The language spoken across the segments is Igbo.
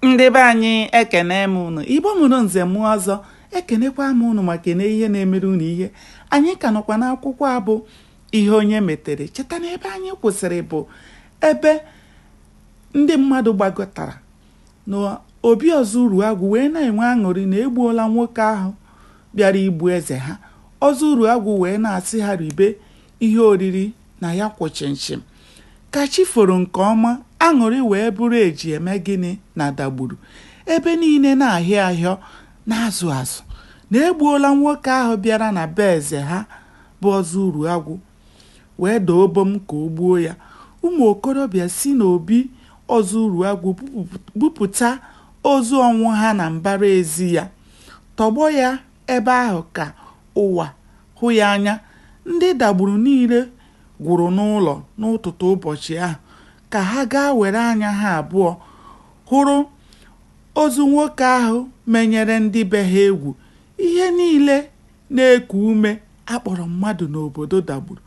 ndị be anyị ekene m unu igbo mụrụ nze mụọ ọzọ ekenekwa m unu ma kene ihe na-emere unu ihe anyị ka nọkwa n'akwụkwọ a bụ ihe onye metere cheta na ebe anyị kwụsịrị bụ ebe ndị mmadụ gbakọtara na obi ọzọ uruagwụ wee na-enwe aṅụrị na egbuola nwoke ahụ bịara igbu eze ha ọzọ uruagwụ wee na-asị ha ribe ihe oriri na ya kwụ chịmchịm ka chi foro nke ọma aṅụrị wee bụrụ e ji eme gịnị na dagburu ebe niile na-ahịọ ahịọ na-azụ azụ na egbuola nwoke ahụ bịara na be eze ha bụ ọzọ uruagwụ wee doo bom ka o gbuo ya ụmụ okorobịa si n'obi ọzọ uruagwụ bupụta ozu ọnwụha na mbara ezi ya tọgbọ ya Ebe ahụ ka ụwa hụ ya anya, ndị Dagburu niile gwụrụ n'ụlọ n'ụtụtụ ụbọchị ahụ ka ha gaa were anya ha abụọ hụrụ ozu nwoke ahụ menyere ndị be ha egwu. Ihe niile na-eku ume a kpọrọ mmadụ n'obodo Dagburu,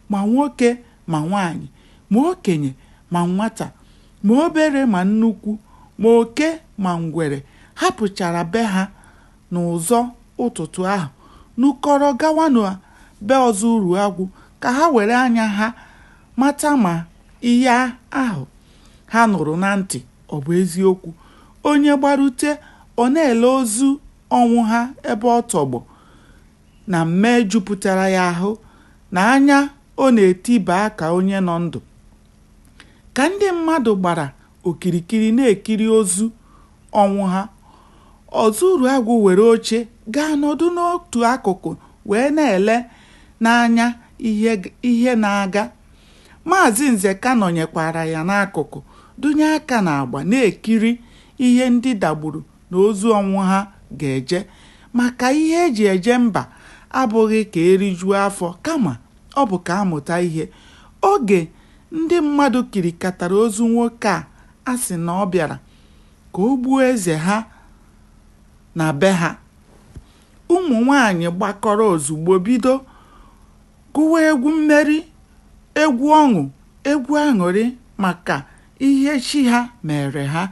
ma nwoke ma nwaanyị, ma okenye ma nwata, ma obere ma nnukwu, ma oke ma ngwere hapụchara be ha N'ụzọ ụtụtụ ahụ, nukọrọ gawa na be Ọzọ Uruagwụ ka ha were anya ha mata ma ihe ahụ ha nụrụ na ntị ọ bụ eziokwu. Onye gbarute, ọ na-ele ozu Ọnwụha ebe ọ tọgbọ na mmee jupụtara ya ahụ na anya ọ na-eti baa ka onye nọ ndụ. Ka ndị mmadụ gbara okirikiri na-ekiri ozu Ọnwụha. Ọzọ Uruagwụ were oche gaa nọdụ n'otu akụkụ wee na-ele n'anya ihe na-aga. Maazị Nzeka nọnyekwaara ya n'akụkụ, dụnye aka n'agba na-ekiri ihe ndị Dagburu na ozu Ọnwụha ga-eje maka ihe e ji eje mba abụghị ka e rijuo afọ kama ọ bụ ka a mụta ihe. Oge Ndị mmadụ kirikatara ozu nwoke a a sị na ọ bịara ka o gbuo eze ha na be ha. Ụmụ nwaanyị gbakọrọ ozugbo bido gụwa egwu mmeri, egwu ọṅụ, egwu aṅụrị maka ihe chi ha meere ha.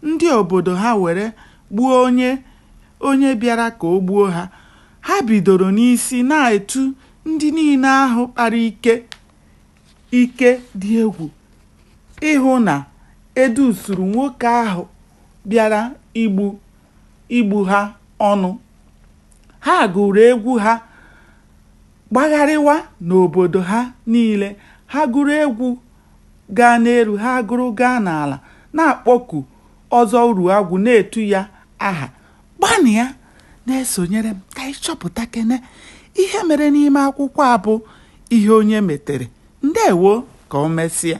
Ndị obodo ha were gbuo onye onye bịara ka o gbuo ha. Ha bidoro n'isi na-etu ndị niile ahụ kpara ike. ike dị egwu ịhụ na e dusuru nwoke ahụ bịara igbu igbu ha ọnụ. Ha gụrụ egwu ha gbagharịwa n'obodo ha niile. Ha gụrụ egwu gaa n'elu, ha gụrụ gaa n'ala, na-akpọku Ọzọ Uruagwụ, na-etu ya aha Gbanịa na-esonyere m ka anyị chọpụtakene ihe mere n'ime akwụkwọ a bụ Ihe Onye Metere. Ndewo ka o mesịa.